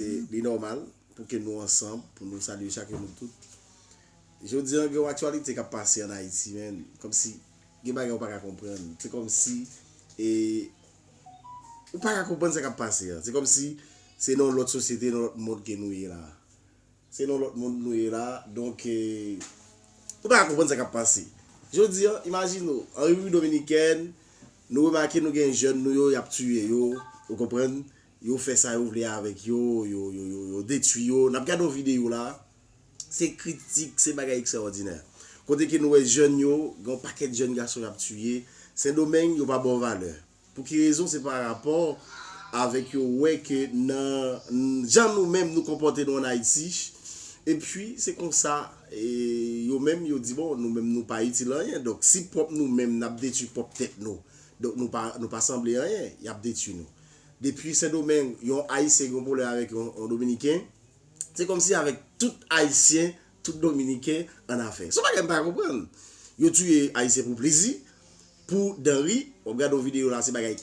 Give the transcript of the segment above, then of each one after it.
Li nòmal pou ke nou ansanm pou nou salye chak youn nou tout. Jodi an gen yon aktyalite kap pase an Ayiti menn, kòmsi gen bagay ou pa ka konprann. Se kòmsi e ou pa ka konprann sa kap pase an. Se kòmsi se nan yon lòt sosyete, nan yon lòt mond ke nou ye la. Se nan yon lòt mond nou ye la, donk e ou pa ka konprann sa kap pase. Jodi an, imajine ou, an Repiblik Dominikèn, nou remake nou gen jèn nou yo yap tiye yo, ou konprann. Yo fè sa yo vle avèk yo, yo detwi yo. N ap gade yon videyo la a, se kritik, se bagay ekstraòdinè. Kote ke nou wè jèn yo, gen yon pakèt jèn gason y ap tiye. Sendomeng, yo pa ba w valè. Pou ki rezon? Se pa rapò avèk yo wè ke nan jan nou menm nou konpòte nou ann Ayiti, epi se konsa yo menm yo di bon, nou menm nou pa itil anyen. Donk si pwòp nou menm n ap detwi pwòp tèt nou, donk nou pa sanble anyen, y ap detwi nou. Depi sendomeng yon ayisyen gen yon pwoblèm avèk yon dominiken se kòmsi avèk tout ayisyen tout dominiken annafè son bagay m pa konprann yo touye ayisyen pou plezi pou dan ri wap gade yon videyo la se bagay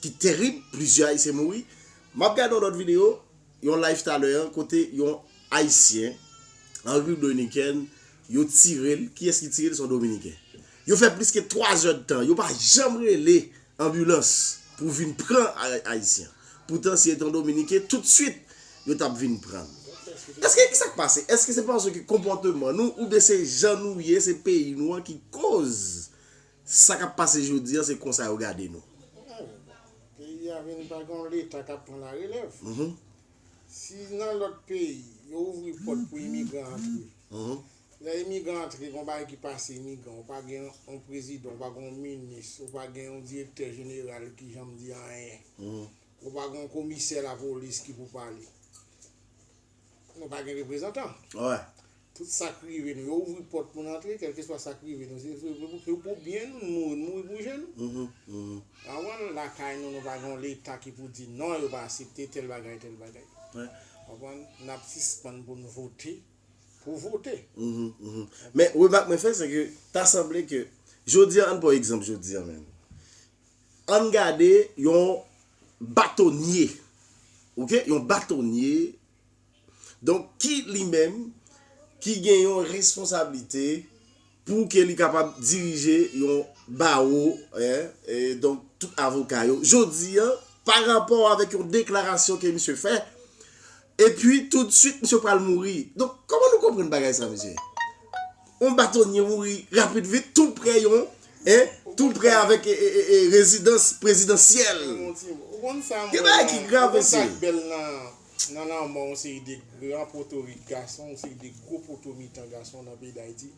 ki terib plizyè ayisyen mouri map gade yon lòt videyo yon live talè an kote yon ayisyen an repiblik doiniken yo tirel kiyès ki tirel son dominiken yo fè pliske 3 zèdtan yo pa janm rele. anbilans pou vin pran ayisyen poutan si etan dominiken tout swit yo tap vin prann eske kisak pase eske se paske konpòteman nou oubyen se jan nou ye se peyi nou an ki koz sa kap pase jodi an se konsa yo gade nou. Peyi a vin pa gen yon leta kap pran la relèv si nan lòt peyi yo ouvri pòt pou imigran antre Lè imigran antre gon bagay ki pase imigran ou pa gen yon prezidan ou pa gen yon minis ou pa gen yon direktè jeneral ki janm di anyen ou pa gen yon komisè lapolis ki pou pale nou pa gen reprezantan tout sak rive nou yo ouvri pòt pou nou antre kèlkeswa sak rive nou se pou byen nou nou mouri nou mouri pou je nou lakay nou nou pa gen yon leta ki pou di non yo pa asepte tèl bagay tèl bagay nap sispann pou nou vote. pou vote. Men remak mwen fè se ke ta sanble ke jodi an, ann pran egzanp jodi an menm. Ann gade yon batonye, ok, yon batonye donk ki li menm ki gen yon responsablite. Pou ke li kapab dirije yon bawo, e donk tout avoka yo. Jodi an, pa rapò avèk yon deklarasyon ke misye fè, epi tou di swit misye pral mouri. Donk, kòman nou konprann bagay sa mesye? Yon batonye mouri rapid vit tou prè yon, e, tou prè avèk rezidans prezidansyèl. Gen bagay ki grav mesye. Nan lanmò yon seri de gran potorik gason, yon seri de gwo poto mitan gason nan peyi Dayiti,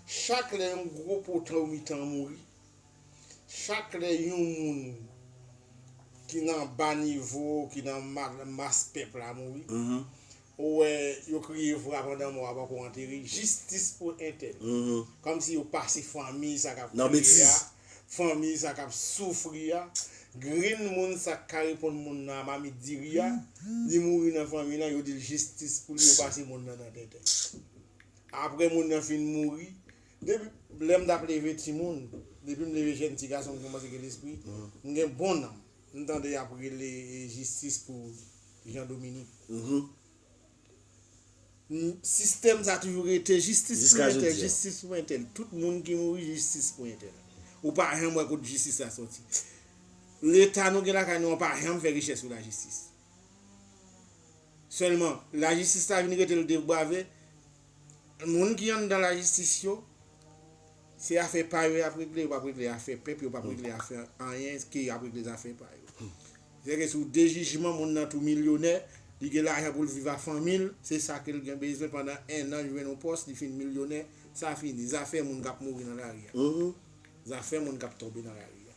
chak lè yon gwo poto mitan mouri, chak lè yon moun ki nan ba nivo, ki nan mas pèp la mouri, ou wè yo kriye vwa pandan mò a poko antere, jistis pou entèl. Kòmsi yo pase fanmi sa k ap kriye a. fanmiy sa kap soufri a grenn moun sak ka reponn moun nan a mamit diri a li mouri nan fanmiy lan yo dil jistis pou li yo pase moun nan nan tenten aprè moun nan fin mouri depi lèm tap leve timoun depim leve jèn ti gason m kòmanse gen lespri m gen bon nanm m tande yap rele jistis pou Jean Dominique. Sistèm sa toujou rete jistis pou entèl jistis pou entèl tout moun ki mouri jistis pou entèl ou pa janm wè kot jistis la sòti leta nou gen lakay nou an pa janm fè rechèch sou lajistis sèlman lajistis la vin rete l de brave moun ki anndan lajistis yo se afè pa yo y ap regle yo p ap regle afè pèp yo p ap regle afè anyen ke y ap regle zafè pa yo Zèke sou de jijman moun nan tou milyonè, li gen lajan poul viv a fanmil, se sa kel gen bezwen pandan 1 an li jwenn yon pòs li fin milyonè, sa fini, zafè moun kap mouri nan lari a. Zafè moun kap tonbe nan lari a.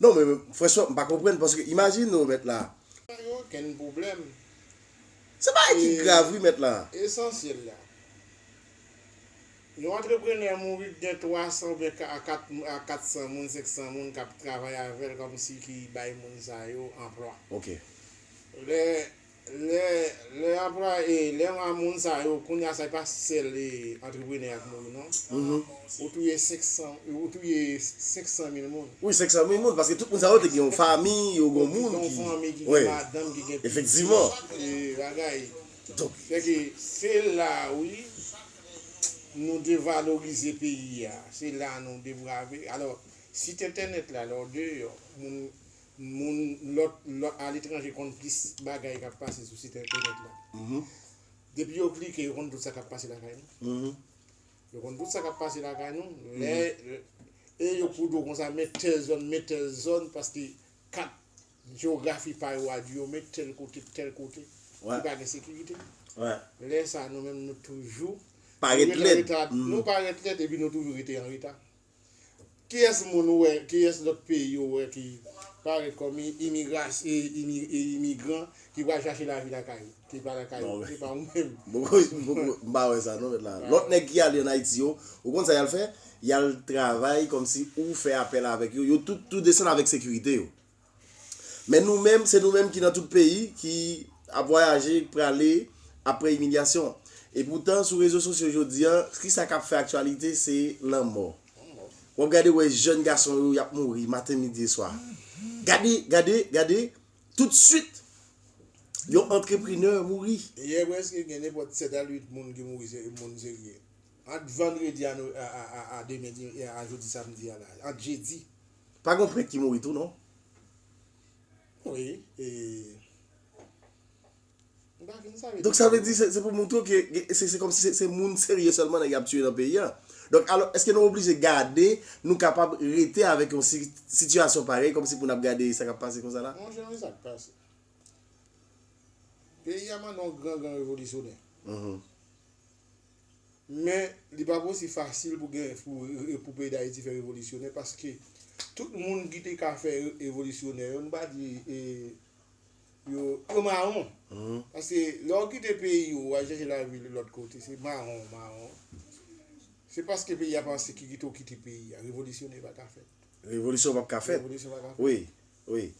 Non men franchman m pa konprann paske imajine ou mèt la. Pa gen okenn pwoblèm. Se bagay ki grav wi mèt la. Esansyèl la. Yon antreprenè mouri k gen 300 oubyen a 4 a 400 moun 500 moun kap travay avèl kòm si ki bay moun sa yo anplwa. Ok. Lè lè lè anplwa e lè a moun sa yo kounye a sa e pa sèl e antreprenè a k mouri non. Ou touye 500 ou touye 500 mil moun. Wi 500 mil moun paske tout moun sa yo te gen yon fanmi yo gon moun ki. Yo te gen yon fanmi ki gen madanm ki gen pitit. Efektivman. Bagay. Donk. Fè ke se la wi. nou devalorize peyi a, se la nou deprave. Alò, sit entènèt la, lè w deyò, moun, moun lòt, lòt, aletranje konn plis bagay k ap pase sou sit entènèt la. Depi yo klike, yo konn tout sa k ap pase lakay nou. Yo konn tout sa k ap pase lakay nou. Lè, e yo kou do konsa men tèl zòn, men tèl zòn, paske kat Jewografi pa yo a di yo met tèl kote, tèl kote, ki pa gen sekirite. Lè sa a nou menm nou toujou. Parèt lèd. Nou parèt lèd epi nou toujou rete an reta. Kiyès moun ou wè, kiyès lòt peyi ou wè ki parèt kòm imigran ki pral chache lavi lakay yo? Ki pa lakay yo, se pa ou menm. M pa wè sa non mèt la. Lòt nèg ki ale ann Ayiti yo, ou konn sa y al fè? Y al travay kòmsi ou fè apèl avèk yo. Yo tout desann avèk sekirite yo. Men nou menm, se nou menm ki nan tout peyi, ki ap vwayaje, k prale apre imilyasyon an. E poutan, sou rezo sosyo jodi an, ki sa k ap fè aktyalite se lanmò. W ap gade wè jèn gason yo, y ap mouri maten, midi e swa. Gade, gade, gade, toutsuit, yon antreprenè mouri. Yè prèske gen nenpòt 7 a 8 moun ki mouri se moun serye. Ant vandredi a demen, a jodi samdi a la, ant jedi. Pa gon prenk ki mouri tou non. Donk sa vle di se pou moutre ke se kòm si se moun serye sèlman nèg yo ap tiye nan peyi a. Donk alò eske nou oblije gade, nou kapab rete avèk yon sitiyasyon parèy kòm si pou n ap gade sa k ap pase konsa la? Monchè men sa k pase. Peyi a mande yon gran gran revolisyonè. Men, li pa pou si fasil pou gen pou peyi Dayiti fè revolisyonè paske tout moun ki te ka fè revolisyonè yo, nou pa di e yo, yo mawon. Paske lè ou kite peyi ou, ou al chèche lavi lòt kote, se mawon ou mawon. Se paske peyi a ap an sekirite ou kite peyi a. Revolisyone pa ka fèt. Revolisyon pap ka fèt. Revolisyon pa ka fèt. Wi. Wi.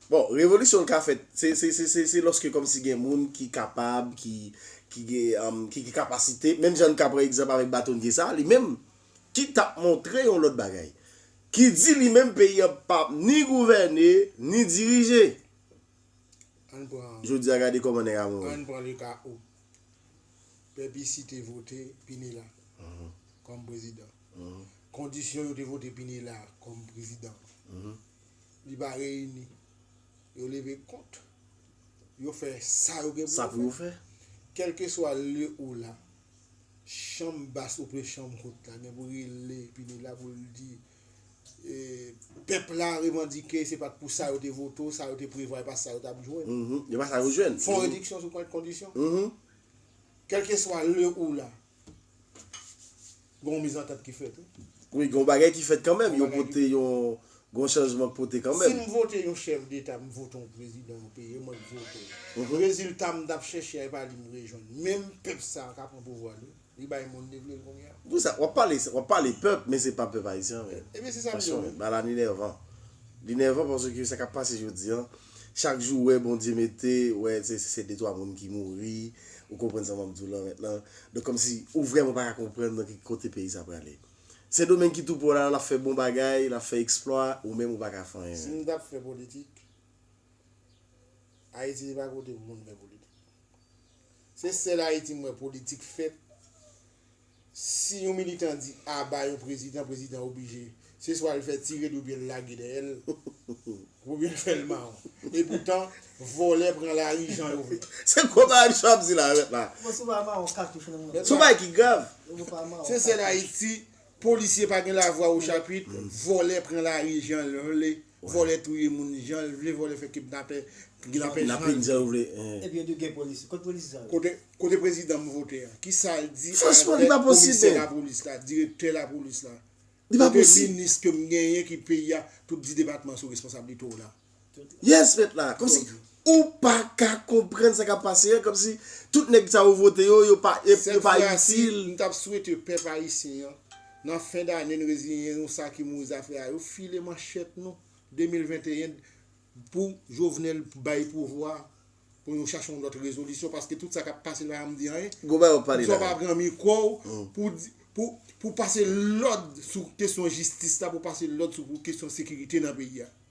Bon, revolisyon l ka fèt, se lòske kòmsi gen moun ki kapab, ki gen kapasite, menm jan n ka pran egzanp avèk batonye sa a, li menm, ki t ap montre yon lòt bagay. Ki di li menm peyi an pa p ni gouvène, ni dirije. Jodi a gade kòman nèg a mouri. An n pran le ka ou. Pèp isi te vote Pinela kòm prezidan. Kondisyon yo te vote Pinela kòm prezidan an. Li pa reyini. Yo leve kont. Yo fè sa yo gen pou yo fè. Kèlkeswa lye ou la, chanm bas oubyen chanm wot la gen pou rele Pineda la pou l di pèp la revandike se pa t pou sa yo te vote w, sa yo te prevwa e pa sa yo t ap jwenn. Fon rediksyon sou kondisyon. Kèlkeswa lye ou la. Gen yon mizantant ki fèt wi. Wi gen yon bagay ki fèt kanmenm, yo pote yon, gen yon chanjman k pote kanmenm. Sim vote yon chèf deta m vote yon prezidan yon peyi e mwen k vote l. Rezilta m tap chèche a e pa li m rejwenn. Menm pèp sa ka pran pouvwa li, li bay moun li vle l kounye a. Pou sa, wap pale, wap pale pèp men se pa pèp ayisyen anmweyy. Ebyen se sa m di w wi. Passion, ba la ni nèvan. Li nèvan paske sa kap pase jodi an. Chak jou wè Bondye mete wè se se de twa moun ki mouri ou konprann sa map diw lan mentnan donk kòmsi ou vrèman paka konprann nan ki kote peyi sa prale sendomeng ki tou prè w la lap fè bon bagay lap fè eksplwa ou menm ou paka fè anyen Si menm. nou tap fè politik ayiti se pa kote pou moun fè politik se sèl ayiti m wè politik fèt Si yon militan di aba yon prezidan, prezidan oblije, se swa l fè tire li oubyen l lage dèyè l, oubyen l fè l mawon. E poutan, vòlè pran lari jan yo vle. Se gwo bagay misye ap di la mèt la. Bon si w pa mawon katouch nan men w. Son bagay ki grav. Se sèl Ayiti, polisye pa gen lavwa ochapit, vòlè pran lari jan l vle. Vòlè touye moun janl vle vòlè fè kidnapè kidnapè janl vle. Epi yo diw gen polis kot polis sa yo. Kote prezidan m vote an kisal di avèk komisè lapolis la direktè lapolis la kote minis ke m genyen ki peyi a tout di depatman sou responsabilite w la. Yes met la. Ou pa ka konprann sa kap pase an, kòm si tout nèg sa ou vote yo, yo pa itil. Sèl ti bagay m tap swete pèp ayisyen an, nan fen dane n reziyen nou sa ki mouri zafè a yo file manchèt nou 2021 pou Jovenel bay pouvwa a, pou nou chache yon lòt rezolisyon paske tout sa kap pase li pa janm di anyen. Gwo bagay wap pale la. Poukisa w pa pran mikwo w pou di, pou pase lòd sou kesyon jistis la, pou pase lòd sou kesyon sekirite nan peyi a.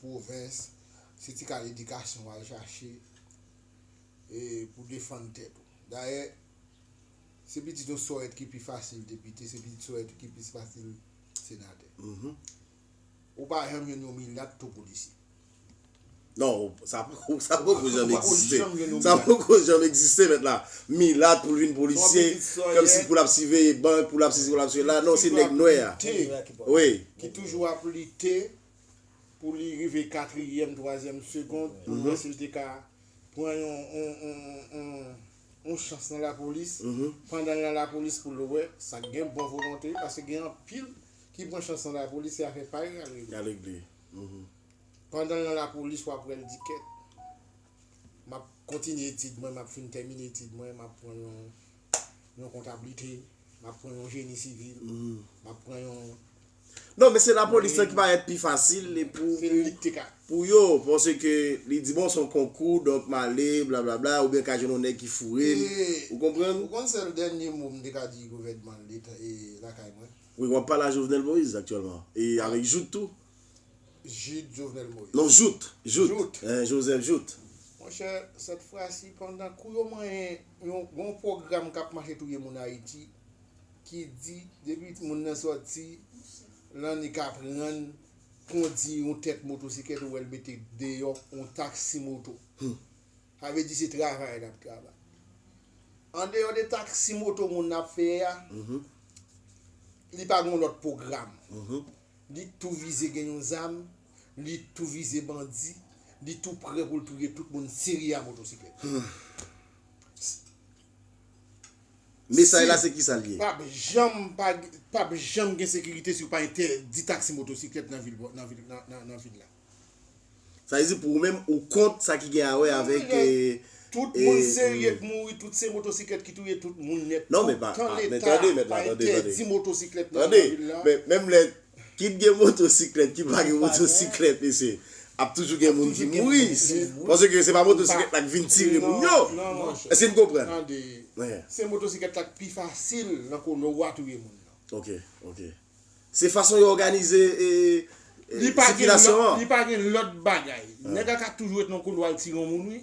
pwovens, se ti kal edikasyon w al chache pou w defann tèt ou. Dayè, se pitit yon sòrèt ki pi fasil depite, se pitit sòrèt ki pi fasil senatè. Ou pa janm jwenn yon milat tou polisye. Non, sa poko janm egziste. Sa poko janm egziste mèt la. Milat pou l vin polisye, kòmsi pou l ap siveye bank, pou l ap sesi, pou l ap sela. Non, se nèg nwè a. Ki toujou ap lite. pou li rive katriyèm, twazyèm segond pou wè si l te ka pran yon chans nan lapolis. Pandan l nan lapolis pou l wè sa k gen bon volonte. Paske gen anpil ki pran chans nan lapolis se afè pa yo y al regle. Pandan l nan lapolis w ap wè l di kèt m ap kontinye etid mwen, m ap fin tèmine etid mwen, m ap pran yon kontablite, m ap pran yon jeni sivil, m ap pran yon. Non men se la polis lan ki parèt pi fasil li pou Se li ki te ka. pou yo panse ke li di bon son konkou donk m ale blablabla oubyen ka jwenn yon nèg ki foure m E ou konprann? ou konn sèl dènye mo m te ka di gouvènman leta e lakay mwen? Wi wap pale a Jovenel Moïse aktyèlman e Ah. avèk Jouthe tou. Jude Jovenel Moïse. Non Jouthe, Jouthe, Jouthe. eeh Joseph Jouthe. Monchè sèt fwasi pandan kou yo manyen yon gon pwogram kap mache touye moun Ayiti ki di depi timoun nan sòti lan li ka aprann kondi yon tèt motosiklèt ou wè l mete deyò yon taksi moto. Sa vle di se travay l ap travay. Andeyò de taksi moto moun nan ap fè a, li pa gen yon lòt pwogram. Li tou vize gen yon zam, li tou vize bandi, li tou prè pou l touye tout moun si li a motosiklèt. Mesaj la se kisa l ye? Pap janm pa pap janm gen sekirite si yo pa entèdi taksi motosiklèt nan vil nan vil nan vil la. Sa vle di pou ou menm ou kont sa ki gen awè avèk e e. Tout moun serye k mouri tout se motosiklèt ki touye tout moun nèt tou tan leta pa entèdi motosiklèt nan vil la. Tande men menm lè Kit gen motosiklèt ki pa gen motosiklèt mesye ap toujou gen moun ki mouri paske se pa motosiklèt la k vin tire moun yo èske n konprann tande se motosiklèt la k pi fasil nan kono wa touye moun nan ok ok se fason yo òganize sikilasyon an li pa gen lòt bagay nèg la ka toujou ret nan kono al tire yon moun wi.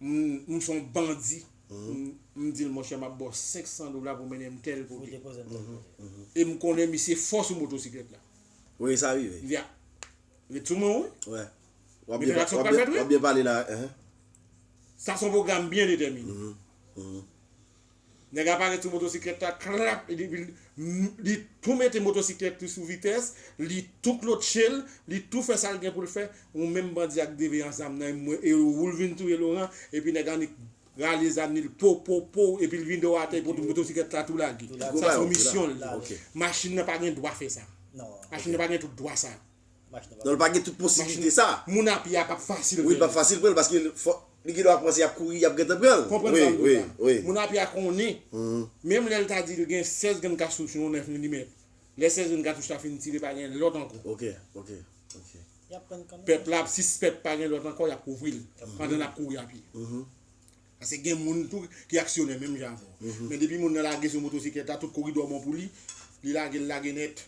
M son bandi m dil monchè map baw 500 dola pou mennenm tèl kote e m konnen misye fò sou motosiklèt la. Wi sa rive. Ya. Ret sou mwen wi. Wap byen pale la. Sa son pwogram byen detèmine. Nèg la pare sou motosiklèt la klap li vin li tou mete motosiklèt li sou vitès li tou klotchel li tou fè sal gen poul fè ou menm bandi ak de veyan zam nan e oul vin touye Laurent epi nèg annik rale zam li l pow pow pow epil vide w atè epi motosiklèt la tou lage sa son misyonl li machin nan pa gen dwa fè sa machin nan pa gen tout dwa sa. Non li pa gen tout posibilite sa. Moun a pye a pap fasil pou li. Wi li pap fasil pou li paske li gen dwa panse yap kouri yap gentan pran l. Konprann sa m di w la. Moun a pye a konnen menm lè l ta di l gen 16 grenn katouch yon 9 milimèt lè 16 grenn katouch la fin tire pa gen lòt ankò. Ok ok ok. Pèp la ap sispèk pa gen lòt ankò yap kouvri l pandan lap kouri a pye. Paske gen moun tou ki aksyonè menm jan avè w. Men depi moun nan lage sou motosiklèt la, tout koridò bon pou li, li lage l lage nèt.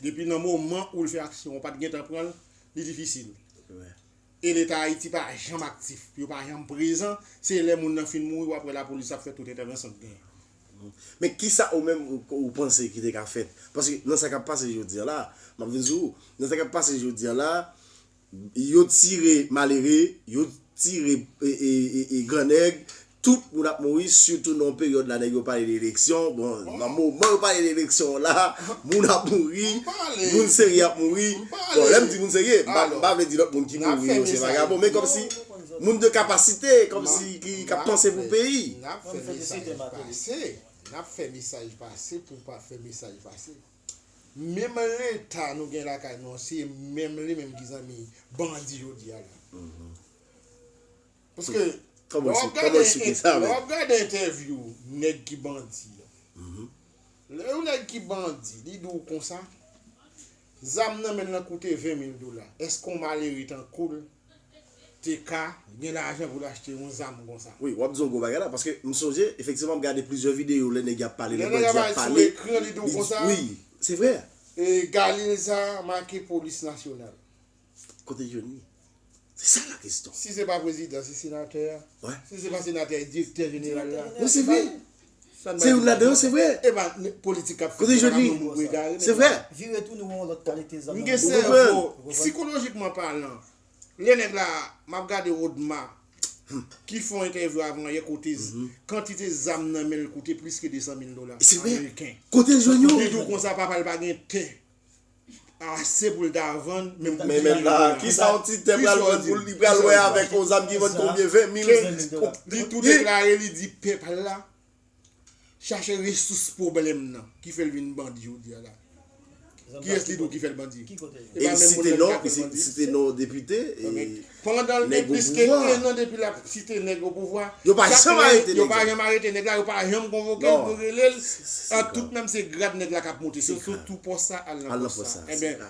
Depi nan moman ou l fè aksyon ou pa t gen tan pran l, li difisil. E Leta Ayiti pa janm aktif. Yo pa janm prezan. Se lè moun nan fin mouri w ap wè lapolis ap fè tout entèvansyon k genyen. Men kisa ou menm ou panse ki te ka fèt? Paske nan sa k ap pase jodi a la, m ap vin sou ou, nan sa k ap pase jodi a la, Yo tire malere, yo tire gran nèg, tout moun ap mouri, sitou nan yon peryòd la nèg yo pale de eleksyon, bon nan moman yo pale de eleksyon an la, moun ap mouri, moun serye ap mouri, bon lè m di moun serye, m pa vle di lòt moun ki mouri yo se vagabon, men kòmsi moun de kapasite, kòmsi ki ap panse pou peyi. N ap fè mesaj pase pou pa fè mesaj pase. menm leta nou gen lakay nou an se menm li menm ki zanmi bandi jodi a la paske lè wap gade entèvyou nèg ki bandi lè yon nèg ki bandi li di w konsa zam nan men l nan koute 20 mil dola eske yon malere tankou l te ka gen lajan pou l achte yon zam konsa. Wi, w ap di yon gwo bagay la, paske m sonje, efektivman, m gade plizyè videyo lè nèg y ap pale, lè bandi ap pale, li di, wi, se vre. E galil sa a make polis nasyonal. Kote l jwenn li? Se sa la keston. Si se pa prezidan, se senatè a. Si se pa senatè a, e direktè jeneral la. Non, se vre. Se youn ladan yo se vre. Kote jwenn li? Se vre. Ou konprann? Lè nèg la, map gade Rodma ki fè yon entèvyou avan yè kote kantite zam nan menl koute plis ke 200 mil dola ameriken. Kotel jwenn yo? Li diw konsa papal pa gen tè. ase pou l ta vann menm konbyen menm la kisa yon ti tè pral vann pou li pral wè avèk yon zam ki vann konbyen 20 mil li tou deklare li di pèp la chache resous pwoblèm nan ki fè l vin bandi jodi a la kiyès li di w ki fè l bandi e li site non li site non depite Pandan l gen plis ke 1 an depi l ap site nèg opouvwa, yo pa janm arete nèg la, yo pa janm konvoke l pou rele l an tout menm se grad nèg la k ap moute se sou tou pòs sa al nan pòs sa. Enben,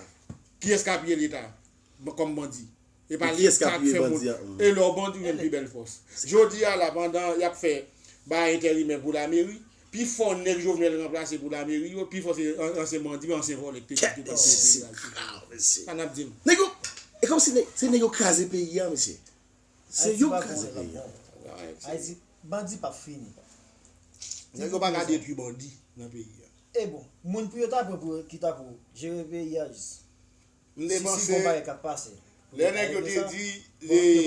kiyès k apiye leta kòm bandi? E pa leta k fè moun e lè w bandi w jwenn pi bèl fòs. Jodi a la pandan y ap fè bagay enterimè pou lameri, Pi fò nèg Jovenel ranplase pou lameri yo, pi fò se ansyen bandi, men ansyen vòlè k te kite pa voye peyi al sou kay yo. Sa nap di m? Nèg yo, e kòm si se nèg yo kraze peyi a mesye. Se yo k kraze peyi a. Ayiti, bandi pap fini. Nèg yo paka detwi bandi nan peyi a. E bon, moun pou yo ta pran pou yo ki ta pou jere peyi a jis. M te panse lè nèg yo te di e.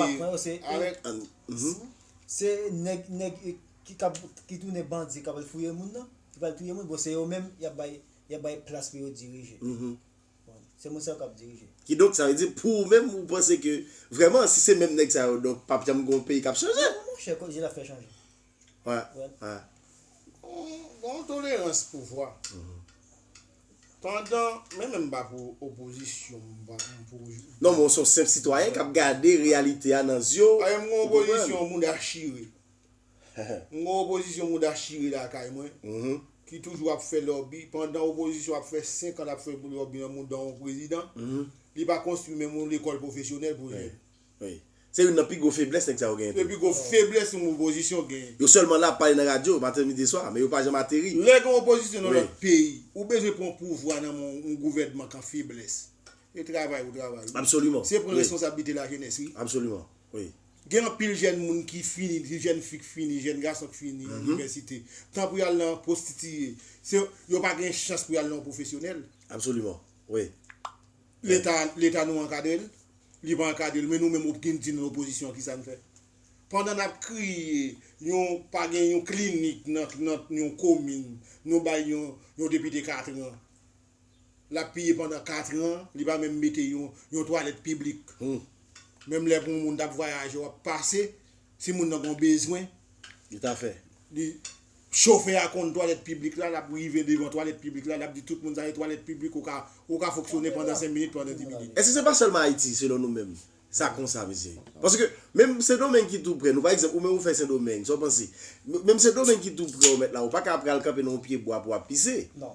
Se nèg nèg ki kap ki tounen bandi kap al fouye moun nan ki pral touye moun bon se yo menm yap bay yap bay plas pou yo dirije se moun sa yo kap dirije. Kidonk sa vle di pou ou menm ou panse ke vrèman si se menm nèg sa yo donk pap janm gon peyi kap chanje. Non monchè ki lè lap fè chanje. Gen yon tolerans pouvwa. Pandan, men menm pa pou opozisyon m pa pou. Non men w son senp sitwayen kap gade reyalite a nan zye w. Paske m gon opozisyon mouda chire. M gon opozisyon mouda chire lakay mwen ki toujou ap fè lòbi pandan opozisyon ap fè 5 an lap fè lòbi nan mouda yon prezidan li pa konstwi menm yon lekòl pwofesyonèl pou jèn. Wi. Se youn nan pi gwo feblès nèg sa yo genyen tou. Se pi gwo feblès yon opozisyon genyen. Yo sèlman la ap pale nan radyo, maten, midi, swa, men yo pa janm ateri. Lè gen opozisyon nan lòt peyi, ou bezwen pran pouvwa nan men yon gouvènman kan feblès. E travay ou travay wi. Absoliman. Se pran responsablite lajenès wi. Absoliman. Wi. Gen anpil jèn moun ki fini, ti jèn fi k fini, jèn gason k fini inivèsite. Tan pou y al nan pwostitiye. Se, yo pa gen chans pou y al nan yon pwofesyonèl. Absoliman. Wi. Leta leta nou ankadre l li pa ankadre l men nou menm opgin di nou lopozisyon kisa n fè pandan n ap kriye yon pa gen yon klinik nan nan yon komin nou bay yon yon depite katran l ap piye pandan katran li pa menm mete yon yon twalèt piblik menm lè pou yon moun t ap vwayaje w ap pase Si moun nan gon bezwen, li ta fè. Li, chofè a konn twalèt piblik la, lap rive devan twalèt piblik la, lap di tout moun sa se twalèt piblik ou ka, ou ka fonksyone pandan 5 minit, pandan 10 minit. Èske se pa sèlman Ayiti, selon nou menm, sa konsa mesye? Paske, menm Sendomeng ki tou prè nou, pa egzanp, ou menm ou fè Sendomeng, sa w panse? Menm Sendomeng ki tou prè w mèt la, ou pa ka pral kanpe nan yon pye bwa pou w ap pise. Non.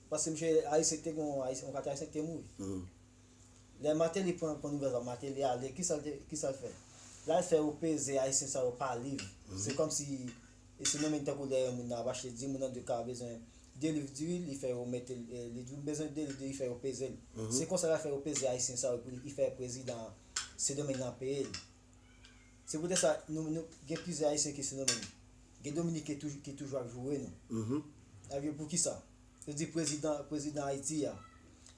Paske misye Aristide te gen yon Ayisyen yon kati Ayisyen ki te mouri. Lè Martelly pran pran nouvèl sa Martelly ale kisa l te kisa l fè? L al fè yo peze Ayisyen sa yo pa liv. Se kòmsi e se menm tankou lè yon moun nan ap achte diri moun nan di ka bezwen 2 liv diri li fè yo mete l li di m bezwen 2 liv diri li fè yo peze l. Se konsa l al fè yo peze Ayisyen sa yo pou li fè prezidan Sendomeng nan peye l. Se poutèt sa, nou nou gen plizyè Ayisyen ki sou nou menm. Gen Dominiken toujou ki toujou ap joure nou. N ap di yo poukisa? Yo di prezidan prezidan Ayiti a,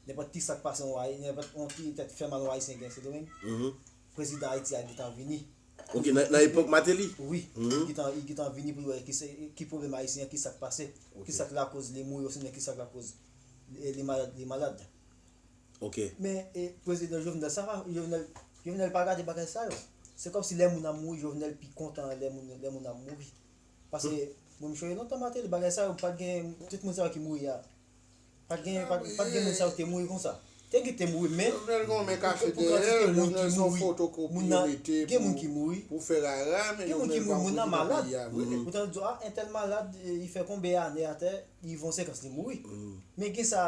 nenpòt ki sa k pase yon Ayi, nenpòt yon ki tèt fè mal yon Ayisyen gen Sendomeng, prezidan Ayiti a gentan vini. Ok, nan epòk Mateli? Wi. Li gentan li gentan vini pou l wè ki se ki pwoblèm Ayisyen an, ki sa k pase, ki sa k lakoz li mouri osinon ki sa k lakoz li malad li malad. ok. Men e prezidan jovenel sa pa jovenel jovenel pa gade bagay sa yo se kòmsi lè moun ap mouri jovenel pi kontan lè moun lè moun ap mouri pase moun m chonje non tan mateli bagay sa yo pat gen tout moun sa yo ki mouri a pat gen pat gen moun sa yo ki te mouri konsa te gen ki te mouri men jovenel gon men kache dèyè l jovenel son fotokopi yo mete gen moun ki mouri pou fè rara men jovenel pa moun ki nan peyi a vre ou tande yo di a entèl malad li fè konbe ane atè li von sekans li mouri men gen sa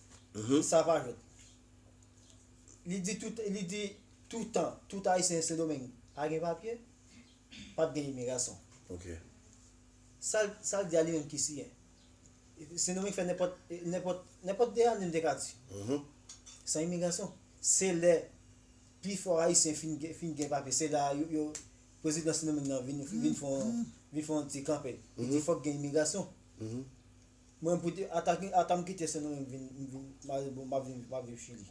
Sa pa jwèt. Li di tout li di toutan, tout Ayisyen Sendomeng pa gen papye, pa p gen imigrasyon. Ok. Sa l, sa l di a li menm ki siyen. Sendomeng fè nenpòt, nenpòt, nenpòt de ane m te ka di. San imigrasyon. Se lè pifò Ayisyen fin gen, fin gen papye, se la yo, yo, prezidan Sendomeng nan vin, vin fè yon, vin fè yon ti kanpe. Li di fòk gen imigrasyon. Mwen pou te ata ki ata m kite Sen Domingue vin m vin mare bon map vin map viv Chili.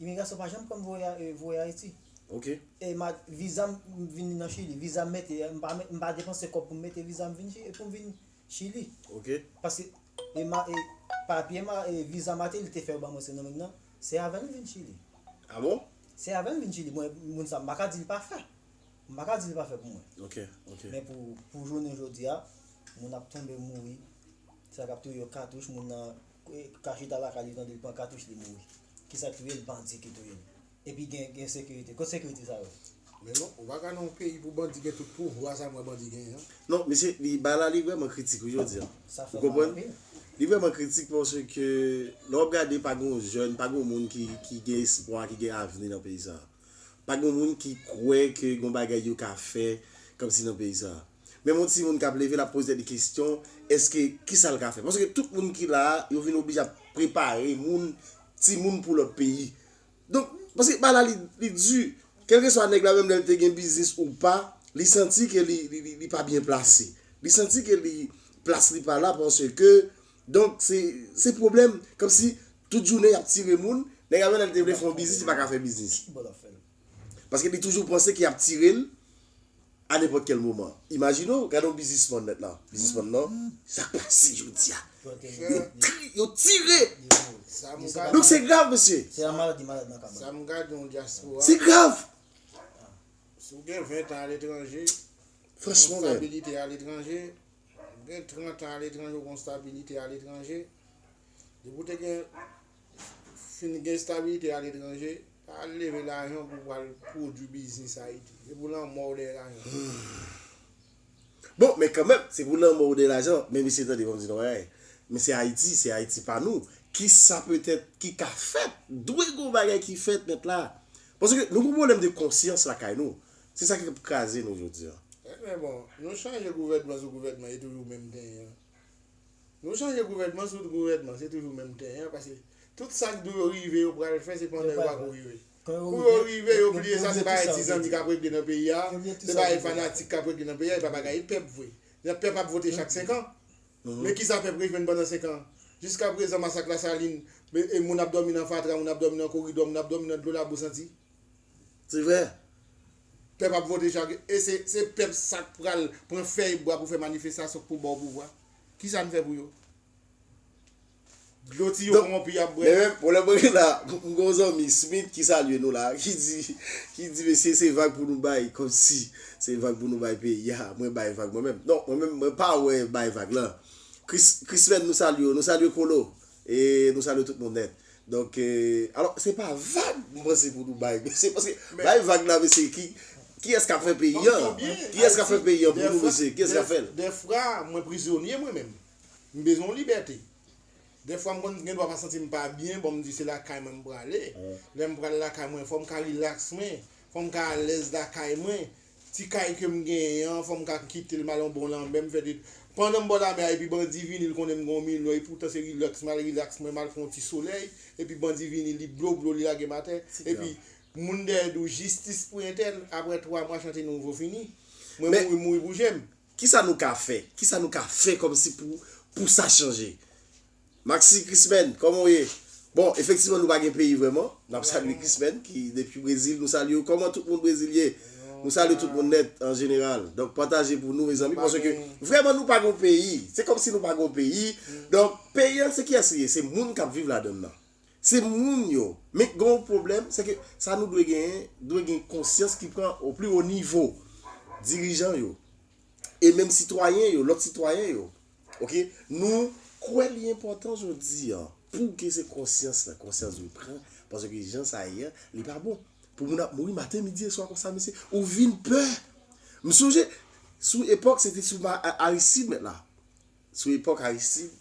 Imigrasyon pa janm pranm voye e voye Ayiti. Ok. E ma viza m vini nan Chili, viza m mete m pa m pa depanse kòb pou m mete viza m vini pou m vin Chili. Ok. Paske e ma e papye ma e viza Martelly te fè yo ban mwen Sen Domingue nan, se avè l m vin Chili. A bon? Se avè l m vin Chili mwen moun sa m pa ka di l pa fè. m pa ka di li pa fè pou mwen. Ok, ok. Men pou, pou jounen jodi a, moun ap tonbe mouri, sa k ap touye yo katouch, moun nan ka chita lakay li tande li pran katouch li mouri. Ki sa k touye l? Bandi ki touye l. Epi gen, gen sekirite. Kot sekirite sa yo? Men non, ou pa ka nan yon peyi pou bandi gen tout pouvwa sa mwen bandi genyen an. Non, mesye, li, bagay la li vrèman kritik wi jodi a. Sa fè mal anpil. Ou konprann? Li vrèman kritik paske lè w ap gade pa gen yon jèn, pa gen yon moun ki, ki gen espwa, ki gen avni nan peyi sa a. Pa gen yon moun ki kwè ke gon bagay yo ka fè kòmsi nan peyi sa a. Menm yon timoun k ap leve l ap poze tèt li kesyon èske ki sa l ka fè. Paske tout moun ki la a yo vin oblije ap prepare moun, timoun pou lòt peyi. Donk, paske bagay la li li di. Kèlkeswa nèg la menm lè l te gen biznis ou pa, li santi ke li li pa byen plase. Li santi ke li plas li pa la paske donk se se pwoblèm kòmsi. Tout jounen yap tire moun. Nèg Avenel te vle fè yon biznis li paka fè biznis. Paske li toujou panse ke yap tire l a nenpòt kèl moman. Imajine w, gade yon biznisman nèt la, biznisman nan, sa k pase jodi a. Yo tire! Donk se grav mesye. Sa m gade yon dyaspora. Se grav! Si w gen 20 tan aletranje, Franchman men. Ou gen stabilite aletranje. Ou gen 30 tan aletranje, ou gen stabilite aletranje. Depi w te gen fin gen stabilite a letranje, pa al leve lajan pou pral pwodwi biznis Ayiti. Se pou lanmò w dèyè lajan. Bon, men kanmenm, se pou lanmò w dèyè lajan, men mesye tande banm di nou yon bagay, men se Ayiti, se Ayiti pa nou, ki sa petèt ki ka fèt, dwe gen yon bagay ki fèt nèt la. Paske nou gen yon pwoblèm de konsyans lakay nou. Se sa ki ap kraze nou jodi an. Men bon, nou chanje gouvènman sou gouvènman e toujou menm tenyen an. Nou chanje gouvènman sou gouvènman se toujou menm ten an paske tout sa k dwe rive yo pral fè se pandan yo pa ko rive. Kou yo rive yo bliye sa se bagay ti zanmi k ap regle nan peyi a, se bagay fanatik k ap regle nan peyi a e pa bagay pèp vre. Jan pèp ap vote chak 5 an men kisa pèp rejwenn pandan 5 an jiskaprezan masak lasalin moun ap dòmi nan fatra moun ap dòmi nan koridò moun ap dòmi nan dlo labou santi. Se vre. Pèp ap vote jan ke e se pèp sa k pral pran fèy bwa pou fè manifestasyon pou ba w pouvwa. Kisa n fè pou yo? Dlo tiyo konwonpi y ap bwè. Men pwoblèm mwen gen la, m gen yon zanmi Smith ki salye nou la ki di ki di mesye se vag pou nou bay kòmsi se vag pou nou bay peyi a. Mwen bay vag mwen menm. Non mwen menm mwen pa wè bay vag lan. Chris Christmaine nou salye w, nou salye Colo. E nou salye tout moun nèt. Donk alò se pa vag m panse pou nou bay mesye paske bay vag la mesye ki kiyès k ap fè peyi an kiyès k ap fè peyi an pou nou mesye kiyès k ap fè l. Dèfra mwen prizonye mwen menm. M bezwen yon libète. Dèfwa m konn gendwa pa santi m pa byen bon m di se lakay mwen m prale. Lè m pral lakay mwen fò m ka rilaks mwen, fò m ka alèz lakay mwen. Ti kay ke m genyen an, fò m ka kite l m al yon bon lanmè, m fè de Pandan m bò lamè a epi bandi vini l konnen m gen yon milyon epoutan se rilaks m al rilaks mwen m al fè yon ti solèy epi bandi vini li blo blo li lage m atè epi moun dèyè di w jistis pou entèl aprè 3 mwa chante nouvo fini mwen mouri m mouri pou je m. Kisa nou ka fè? Kisa nou ka fè kòmsi pou pou sa chanje? Maxi Chrismaine kòman w ye? Bon efektivman nou pa gen peyi vrèman, nap salye Chrismaine ki depi Brezil nou salye w kòman tout moun Brezil ye? Nou salye tout moun nèt an jeneral donk pataje pou nou mezanmi paske vrèman nou pa gen yon peyi se kòmsi nou pa gen yon peyi donk peyi an se kiyès li ye se moun kap viv ladann nan se moun yo men gen yon pwoblèm se ke sa nou dwe genyen dwe gen konsyans ki pran o pli wo nivo dirijan yo e menm sitwayen yo lòt sitwayen yo. Ok nou kwè li enpòtan jodi an pou ke se konsyans la konsyans dwe pran paske ke jan sa ye an li pa bon pou moun ap mouri maten midi e swa konsa mesye ou vin pè m sonje sou epòk se te sou ma Aristide mèt la sou epòk Aristide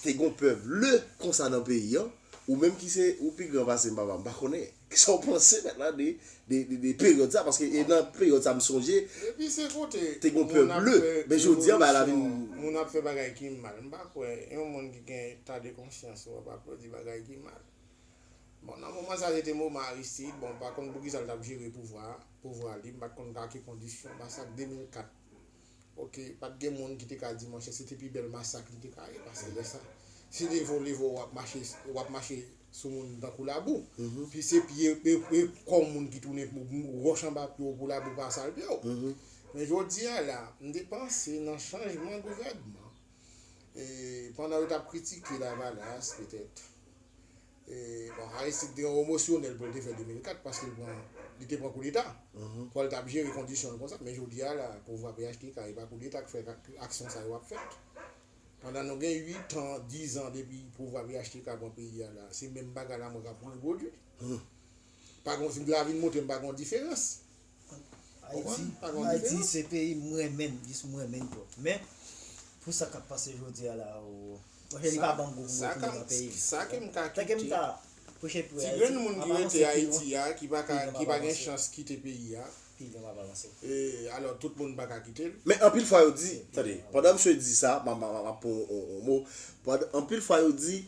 te gon pè ble konsa nan peyi an ou menm ki se ou pi gran pase m papa m pa konnen. Kisa w panse mèt la de de peryòd sa paske e nan peryòd sa m sonje Depi se kote te gon pè moun ap ble fè men jodi an bagay la vin revolisyon, moun ap fè bagay ki mal, m pa kwè yon moun ki gen eta de konsyans ou ap aplodi bagay ki mal. Bon nan moman sa se te moman Aristide, bon m pa konn poukisa l t ap jere pouvwa a, pouvwa li, m pa t konn a ki kondisyon, masak 2004. Ok pat gen moun ki te ka di monchè se te pi bèl masak li te ka ye paske lè sa se te vole vò wap mache wap mache sou moun tankou labou pi se pye e kò moun ki tounen wòch anba pye w pou labou pa sal pye w men jodi a la m te panse nan chanjman gouvènman e pandan yo tap kritike lavalas petèt. Aristide te emosyonèl pou l te fè 2004 paske li te pran koudeta. Fò l t ap jere kondisyon l konsa. Men jodi a la, pouvwa phtk e pa koudeta k fè aksyon sa yo ap fèt. Pandan nou gen 8 an, 10 an depi pouvwa phtk pran peyi a la, se menm bagay la mwen k ap repwodui. Lavi n montre m pa gen yon diferans. Ayiti, Ayiti se peyi m renmen, jis m renmen twòp. Men, pou sa k ap pase jodi a la o, mwen fè li pa ban m gou pou m retounen nan peyi m. Sa ke m ka kite. Sa ke m ka preche pou Ayiti. Ti grenn moun ki rete Ayiti a, ki pa ka, ki pa gen chans kite peyi a. Peyi m ap avanse. E, alò, tout moun pa ka kite l. Men anpil fwa yo di, tande, pandan msye di sa, m ap pran yon mo, anpil fwa yo di,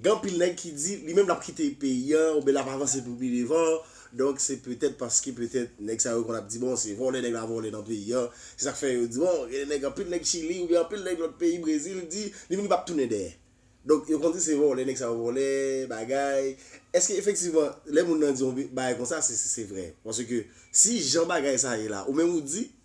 Gen anpil nèg ki di li menm lap kite peyi a oubyen lap avanse pou pi devan, donk se petèt paske petèt nèg sa yo konn ap di bon se vòlè nèg la vòlè nan peyi a, se sak fè yo di bon gen de nèg anpil nèg chili oubyen anpil nèg lòt peyi brezil di li menm li pap tounen dèyè. Donk yo konn di se vòlè nèg sa yo vòlè bagay, èske efektivman lè moun nan di yon bagay konsa se se vrè? Paske si jan bagay sa ye la ou menm ou di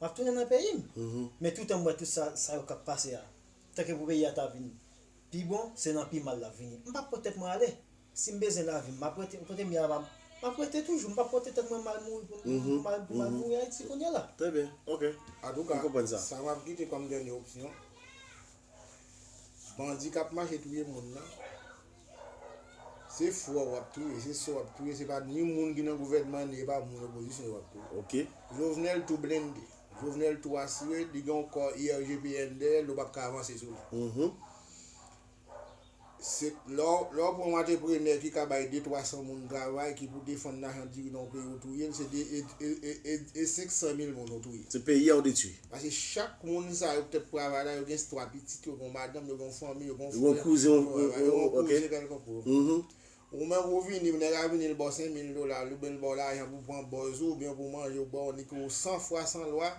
Map tounen nan peyi m. Men toutan m wè tout sa sa yo kap pase a. Tanke pou peyi a ta vin pi bon, se nan pi mal lap vini. M pap pot tèt mwen ale. Si m bezwen lavi m map rete kote m ye a m ap rete toujou. M pap pote tèt mwen mal mouri pou m al mouri Ayiti kounye la. Trè byen. Ok. Antouka, sa map kite kòm dènye opsyon. Bandi kap mache touye moun nan se frè w wap touye, se sè w wap touye, se pa ni moun ki nan gouvènman ni epa moun opozisyon yo wap touye. Jovenel tou blende, Jovenel tou asire, li gen yon kò IRGPN dèyè l ou pap ka avanse sou li. Se lè w lè w pran yon antreprenè ki ka bay 2 300 moun travay ki pou defann lajan diri nan yon peyi ou touye l se 2 e e e 500 mil moun ou touye. Se peyi a ou detwi. Pase chak moun sa yo ki t ap travay la yo gen 3 pitit yo gen yon madanm yo gen yon fanmi yo gen yon frè yo gen yon kouzen kèlkonkou Ou menm ou vini, nèg la vini li ba w 5 mil dola, li oubyen li ba w lajan pou pran bòz ou, oubyen pou manje ou ba w ni ke w san fwa san lwa,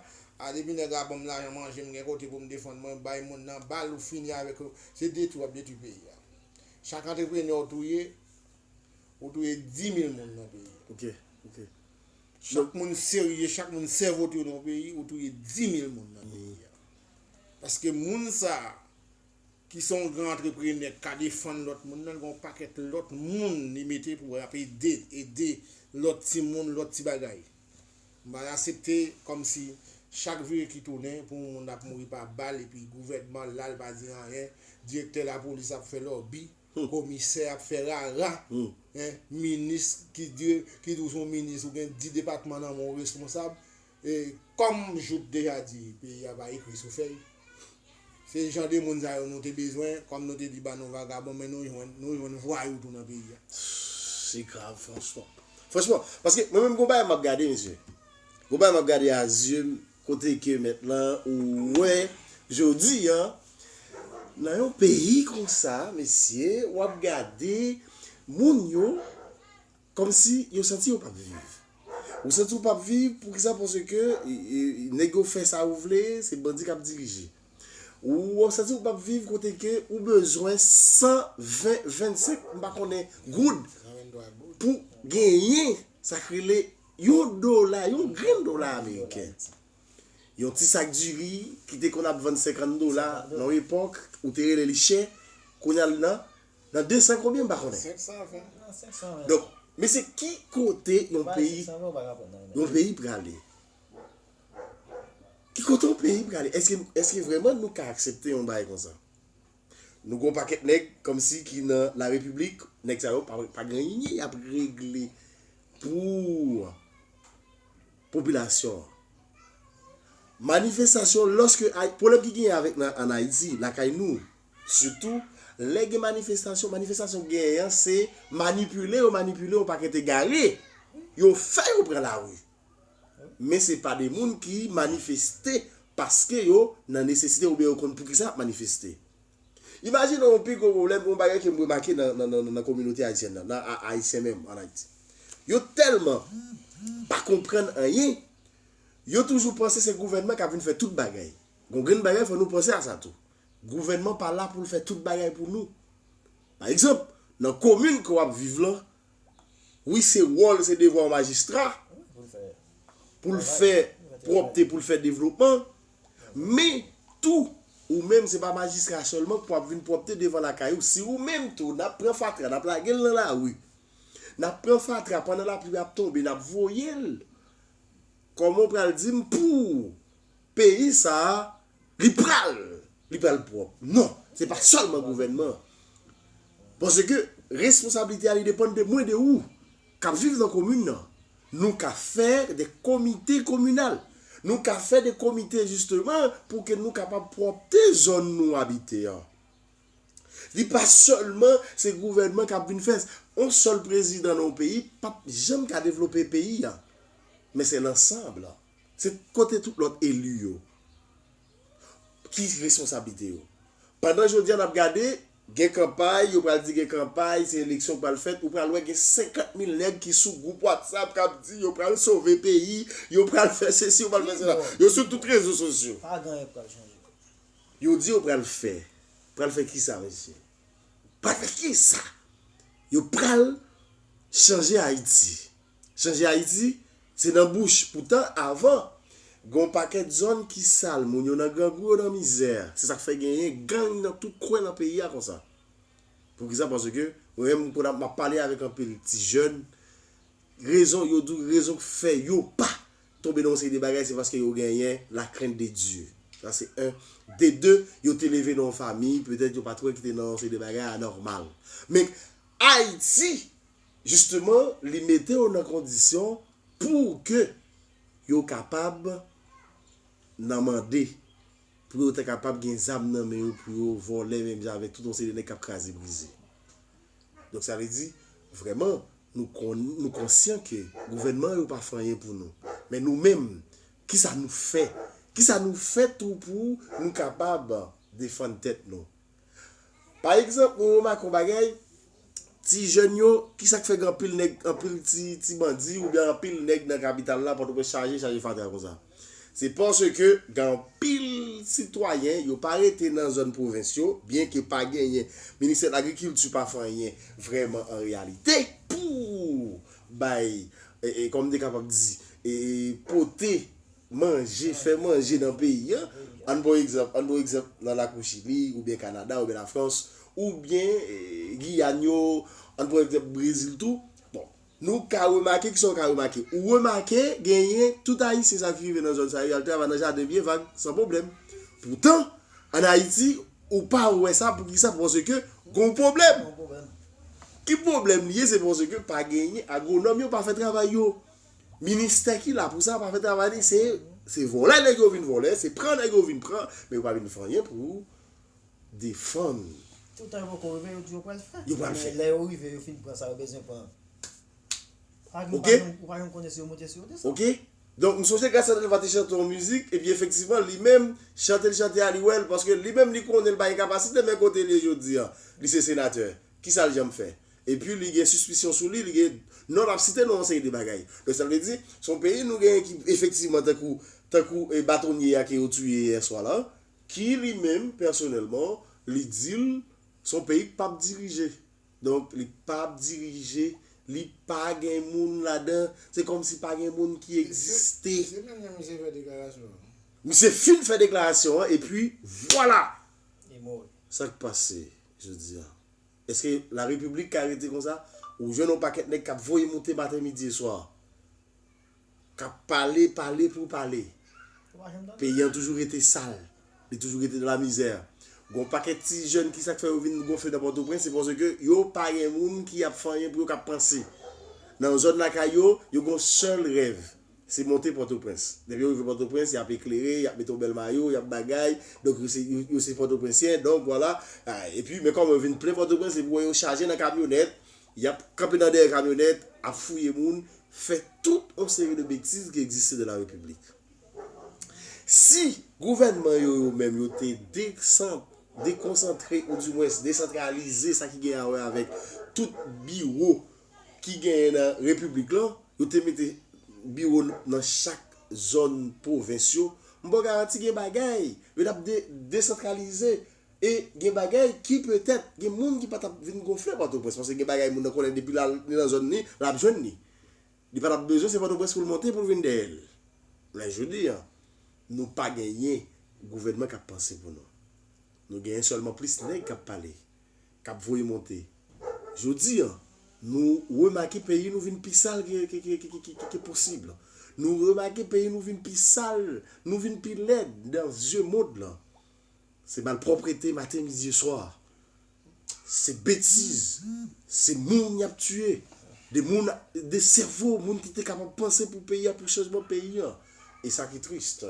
a depi nèg la ban m lajan manje m gen kote pou m defann mwen, bay moun nan bal ou fini avèk yo, se detwi w ap detwi peyi a. Chak antreprenè w touye, ou touye 10 mil moun nan peyi a. Ok, ok. Chak moun serye, chak moun sèvo te yo nan yon peyi, ou touye 10 mil moun nan peyi a. Paske moun sa a. Ki se yon gran antreprenè k ka defann lòt moun nan, gen yon pakèt lòt moun li mete pou y ap ede, ede lòt timoun, lòt ti bagay. M pa asepte kòmsi chak vire ki tounen pou yon moun ap mouri pa bal epi gouvènman la l pa di anyen, direktè lapolis ap fè lòbi, komisè ap fè rara, minis ki di w se yon minis ou gen di depatman nan men w responsab. E kòm Jout deja di peyi a pa ekri sou fèy. Se jan de moun sa yo nou te bezwen, kòm nou te di ba nou vagabon men nou jwenn, nou jwenn vwayou tou nan peyi a. Se grav franchman. Franchman, paske mwen menm gon bagay map gade mesye. Gon bagay map gade a zye m kote ke mèt lan ou wè jodi an nan yon peyi konsa mesye wap gade moun yo. Kòmsi yo santi yo pap viv. Ou santi ou pap viv poukisa paske nèg yo fè sa yo vle se bandi kap dirije ou wap santi ou pap viv kote ke ou bezwen 120 25 m pa konnen goud pou genyen sak rele yon dola yon grenn dola ameriken yon ti sak diri ki te konn ap vann 50 dola nan yon epòk ou te rele li chè kounye a l nan Nan 200 konbyen m pa konnen. 520. Donk, mesye ki kote yon peyi, yon peyi prale? Ki kote yon peyi prale? Eske, eske vreman nou ka aksepte yon bagay konsa? Nou gen yon pakèt nèg kòmsi ki nan la repiblik, nèg sa yo pa pa gen anyen y ap regle pou popilasyon an. Manifestasyon, lòske, pwoblèm ki genyen avèk nan ann Ayiti, lakay nou, Sitou, lè gen manifestasyon, manifestasyon genyen an se manipile yo manipile yon pakèt egare, yo fè yo pran lari. Men se pa de moun ki manifeste paske yo nan nesesite oubyen yo konn poukisa y ap manifeste. Imajine yon pi gwo pwoblèm, yon bagay ke m remake nan kominote ayisyèn nan, nan Ayisyen menm ann Ayiti. Yo tèlman pa konprann anyen, yo toujou panse se gouvènman k ap vin fè tout bagay. Yon grenn bagay fò nou panse a sa tou. Gouvènman pa la pou l fè tout bagay pou nou. Pa egzanp, nan komin ke w ap viv lan, wi se wòl, se devwa yon majistra pou l fè pwòpte, pou l fè devlopman, men tou ou menm se pa majistra sèlman ki pou ap vin pwòpte devan lakay ou. Si ou menm tou n ap pran fatra, n ap lage l nan lari, n ap pran fatra pandan lapli ap tonbe, n ap voye l, kòman ou pral di m pou peyi sa a Li pral! Li pral pwòp. Non! Se pa sèlman gouvènman an. Paske responsablite a li depann de mwen, de ou, k ap viv nan komin nan. Nou ka fè de komite kominal. Nou ka fè de komite jisteman pou ke nou kapab pwòpte zòn nou abite an. Li pa sèlman se gouvènman k ap vin fè. On sèl prezidan nan yon peyi p ap janm ka devlope peyi a. Men se lansanb. Se kote tout lòt eli yo? Ki responsablite yo? Pandan jodi a n ap gade, gen kanpay, yo pral di gen kanpay, se eleksyon k pral fèt, ou pral wè gen 50 mil nèg ki sou gwoup watsap k ap di yo pral sove peyi, yo pral fè sesi, yo pral fè sela. Yo sou tout rezo sosyo. Yo di yo pral fè. Pral fè kisa mesye? Pral fè kisa? Yo pral chanje Ayiti. Chanje Ayiti se nan bouch, poutan avan gon pakèt zòn ki sal, moun yo nan grangou yo nan mizè, se sak fè genyen gang nan tout kwen nan peyi a konsa. Poukisa paske mwen menm m konn map pale avèk anpil ti jèn rezon yo di w rezon k fè yo pa tonbe nan yon seri de bagay se paske yo genyen la krent de Dye sa se 1, de 2 yo te leve nan yon famiy petèt yo pat wè ki te nan yon seri de bagay anòmal men Ayiti Jisteman, li mete yo nan kondisyon pou ke yo kapab nan mande, pou yo ta kapab gen zam nan men yo pou yo vòlè menm jan avèk tout yon seri de nèg k ap kraze brize. Donk sa vle di, vrèman, nou kon, nou konsyan ke gouvènman yo pa fè anyen pou nou. Men nou menm, kisa nou fè? Kisa nou fè tou pou nou kapab defann tèt nou? Pa egzanp, mwen remake yon bagay, ti jèn yo, ki sa k fè gen anpil nèg, anpil ti bandi oubyen anpil nèg nan kapital la, Pòtoprens chaje, chaje fatra konsa? Se paske gen anpil sitwayen, yo pa rete nan zòn pwovens yo, byen ke pa genyen, ministè lagrikilti pa fè anyen vrèman an reyalite pou bay, kòm m te kapab di, pote. Manje, fè manje nan peyi an. Ann pran egzanp, ann pran egzanp nan lakou Chili, oubyen Kanada, oubyen Lafrans, oubyen Giyàn yo, ann pran egzanp Brezil tou. Bon, nou ka remake, kisa ou ka remake? Ou remake genyen tout Ayisyen sa ki rive nan zòn sa yo, y al travay nan jaden byen vag, san pwoblèm. Poutan, ann Ayiti, ou pa wè sa, poukisa? Paske gon pwoblèm. Ki pwoblèm li ye? Se paske pa genyen, agwonòm yo pa fè travay yo. Ministè ki la pou sa pa fè travay li se se vòlè nèg yo vin vòlè, se pran nèg yo vin pran, men yo pa vin fè anyen pou defann. Toutan yo poko rive yo di yo pral fè. Yo pral fè. Men lè yo rive yo fin pran sa yo bezwen pran. Ak nou pa janm ou pa janm konnen si yo monte si yo desann. Ok. Donk m sonje Gracia Delva te chante yon mizik epi efektivman li menm chante l chante a li wè l paske li menm li konnen l pa gen kapasite men kote l ye jodi an li se senatè kisa l janm fè. Epi li gen sispisyon sou li, li gen, non l ap site nou yon seri de bagay. Donk sa vle di, se yon peyi nou genyen ki efektivman tankou, tankou batonye a ke yo tiye yè swa la, ki li menm pèsonèlman li di l se yon peyi k pap dirije. Donk li pap dirije, li pa gen moun ladan, se kòmsi pa gen moun ki egziste. Se menm jan misye fè deklarasyon an. Misye fin fè deklarasyon an epi vwala! Li mouri. Sa k pase jodi a? Eske la repiblik ka rete konsa? Ou jwenn yon pakèt nèg kap voye moute maten midi e swa. Kap pale, pale pou pale. Peyi an toujou rete sal. Li toujou rete nan la mizè. Gon pakèt ti jèn ki sak fè yo vin gonfle nan pòtoprens se paske yo pa gen moun ki ap fanyen pou yo kap panse. Nan zòn lakay yo, yo gon sèl rèv. Se monte Pòtoprens. Depi yo rive Pòtoprens, y ap eklere, y ap mete yon bèl mayo, y ap bagay, donk yo se, yo se Pòtoprensyen, donk vwala. Epi, men kòman yo vin plen Pòtoprens, epi ou wè yo chaje nan kamyonèt, y ap kanpe nan dèyè kamyonèt, ap fouye moun, fè tout yon seri de betiz ki egziste de la Repiblik. Si gouvènman yo, yo menm, yo te desan, dekonsantre, ou dimwens desantralize sa ki gen a wè avèk tout biwo ki genyen nan Repiblik lan, yo te mete biwo nan chak zòn pwovens yo, m ba w garanti gen bagay yo t ap desantralize e gen bagay ki petèt gen moun ki pa t ap vin gonfle Pòtoprens paske gen bagay moun nan konnen depi li nan zòn li, l ap jwenn li. Li pa t ap bezwen se Pòtoprens pou l monte pou l vin dèyè l. Men jodi a, nou pa genyen gouvènman k ap panse pou nou. Nou genyen sèlman plis nèg k ap pale. k ap voye monte. Jodi an, nou remake peyi nou vin pi sal ke posib. Nou remake peyi nou vin pi sal, nou vin pi lèd nan zye mond lan. Se malpwòprete maten, midi e swa. Se betiz, se moun y ap tiye. De moun, de sèvo moun ki te kapab panse pou peyi a, pou chanjman peyi an. E sa ki trist,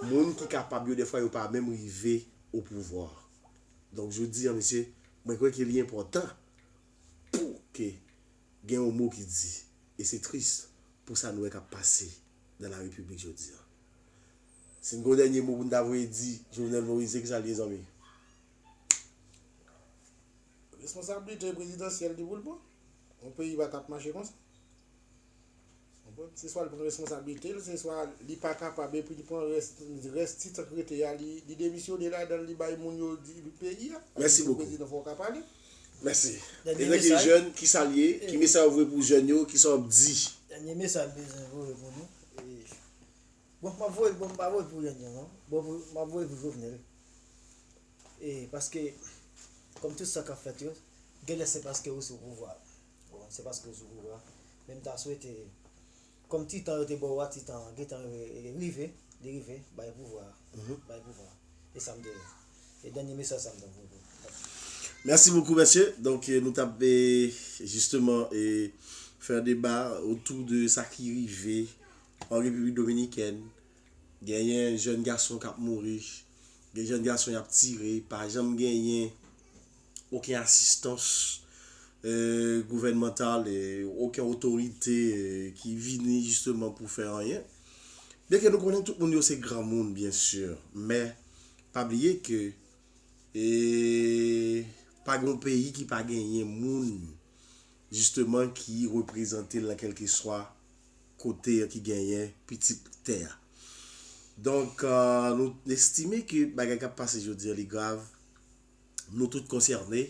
moun ki kapab yo dèfwa yo pa menm rive opouvwa. Donk jodi an mesye, mwen kwè ke li enpòtan pou ke gen yon mo ki di, e se tris pou sa nou wè kap pase nan la repiblik jodi an. Si n gen yon dènye mo pou n ta voye di Jovenel Moïse se kisa li ye zanmi? Responsablite prezidansyèl li pou l pran. Yon peyi pa tap mache konsa. Se swa li pran responsabilite l, se swa li pa kapab epi li pran rès ti tan k rete a li demisyone ladan l li bay moun yo diri peyi a. Mèsi bokou. Prezidan fò w ka pale. Mèsi. Dènye mesaj. Evèk e jèn ki sa l ye? Ki mesaj ou voye pou jèn yo? Ki sa w ap di? Dènye mesaj m bezwen voye pou nou Bon m ap voye bon m pa voye pou jèn yo non bon m ap voye pou Jovenel e paske kòm tout sa k ap fèt yo genlè se paske ou sou pouvwa a. Bon se paske w sou koub la. Men m ta swete kòm ti tan yo te ba w a ti tan an gentan rive, li rive, bay pouvwa a. Bay pouvwa a. Se sa m te vle. Se dènye mesaj sa m te vle bay. Mèsi bokou mèsye. Donk nou t ap jisteman fè yon deba otou de sa ki rive an Repiblik Dominikèn. Genyen jèn gason k ap mouri. Gen jèn gason y ap tire. Pa janm genyen. oken asistans gouvènmantal, oken otorite ki vini jisteman pou fè anyen. Byenke nou konnen tout moun yo se granmoun byen si, men pa bliye ke pa gen yon peyi ki pa genyen moun jisteman ki reprezante l nan kèlkeswa kote ki genyen pitit tè a. Donk nou estime ke bagay k ap pase jodi a li grav. nou tout konsène.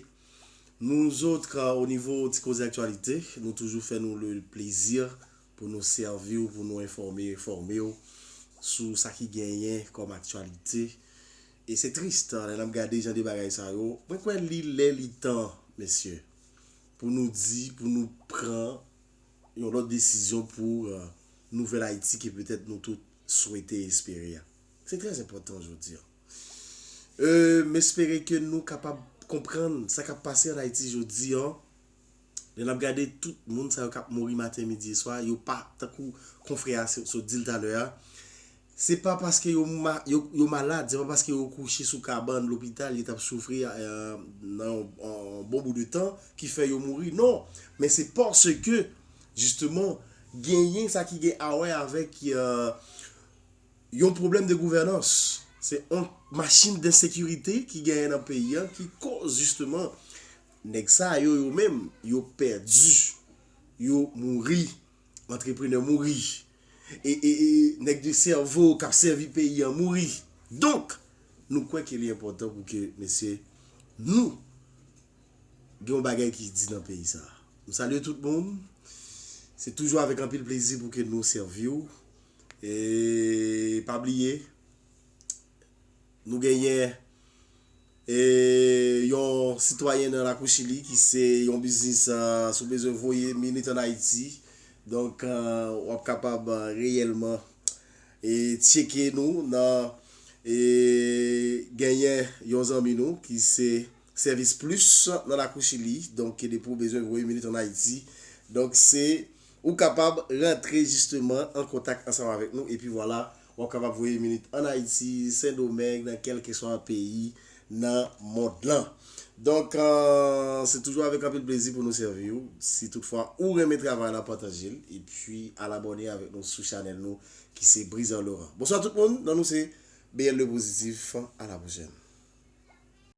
Nouzotr o nivo Ti Koze Aktyalite, nou toujou fè nou le plezi pou nou sèvi w, pou nou enfòme, enfòme w sou sa ki genyen kòm aktyalite. E se trist lè n ap gade jan de bagay sa yo. Mwen kwè li lè li tan, mesye, pou nou di, pou nou pran yon lòt desizyon pou nouvèl Ayiti ke petèt nou tout swete e espere a. Se trè enpòtan jodi an. M espere ke nou kapab konprann sa k ap pase an Ayiti jodi an. Lè n ap gade tout moun sa yo k ap mouri maten, midi e swa, yo pa tankou konfrè a sot di l talè a, se pa paske yo malad, se pa paske yo kouche sou kabann lopital, yo t ap soufri nan yon bon bout de tan ki fè yo mouri. Non! Men se paske jisteman genyen sa ki gen awè avèk. Yon pwoblèm de gouvènans, se yon machin densekirite ki genyen nan peyi an ki koz jisteman nèg sa yo yo menm yo pèdi, yo mouri, antreprenè mouri, nèg de sèvo k ap sèvi peyi an mouri. Donk, nou kwè ke li enpòtan pou ke mesye nou gen yon bagay ki di nan peyi sa a. M salye tout moun. Se toujou avèk anpil plezi pou ke nou sèvi w. E pa bliye nou genyen e yon sitwayen nan lakou chili ki se yon biznis si w bezwen voye minit an ayiti donk w ap kapab reyèlman e tyeke nou nan e genyen yon zanmi nou ki se sèvis plis nan lakou chili donk depi w bezwen voye minit an ayiti donk se Ou kapab rantre jisteman an kontak ansanm avèk nou epi vwala wap kapab voye minit an Ayiti, Sen Domeng, nan kèlkeswa peyi nan mond lan. Donk se toujou avèk anpil plezi pou nou sèvi ou. Si tout fwa ou renmen travay la pataje l epi al abòne avèk nou sou chanèl nou ki se Brizan Laurent. Bonswa tout moun, non nou se BLE Positif, a la pwochèn.